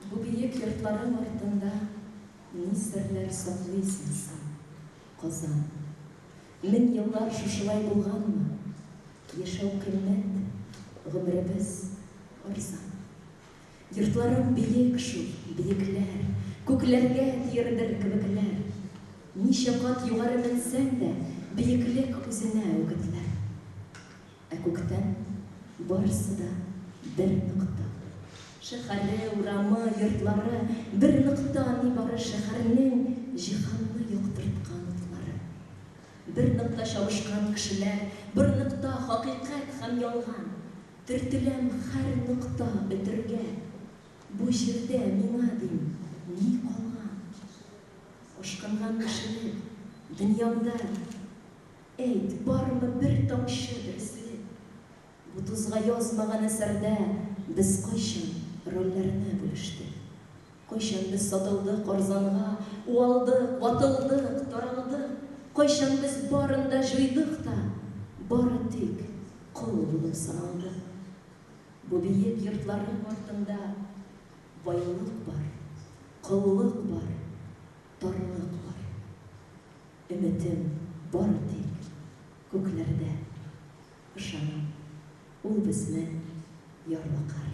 Бу биек йортларың артында Ни серләр саклыйсың син, Казан? Мең еллар шушылай булганмы? Яшәү кыйммәт, гомеребез арзан. Йортларың биек шул, биекләр, Күкләргә тиердер кебекләр. Ничә кат югары менсәң дә, Биеклек үзенә үгетләр. Ә күктән барысы да бер нокта. Шәһәре, урамы, йортлары, бер нокта нибары шәһәрнең җиһанны яктырткан утлары. Бер нокта чабышкан кешеләр, бер нокта хакыйкать һәм ялган. Төртеләм һәр нокта өтергә. Бу җирдә миңа дим ни калган? Ашкынган кешелек дөньямда. Әйт, бармы бер тамчы дөреслек? Бу тузга язмаган әсәрдә без кайчан рольләрне бүлештек? Кайчан без сатылдык арзанга, уалдык, ватылдык, таралдык? Кайчан без барын да җуйдык та, бары тик кол булып саналдык? Бу биек йортларның артында байлык бар, коллык бар. тарлыклар. Өметем бары тик күкләрдә. Ышанам, ул безнең ярлыкар.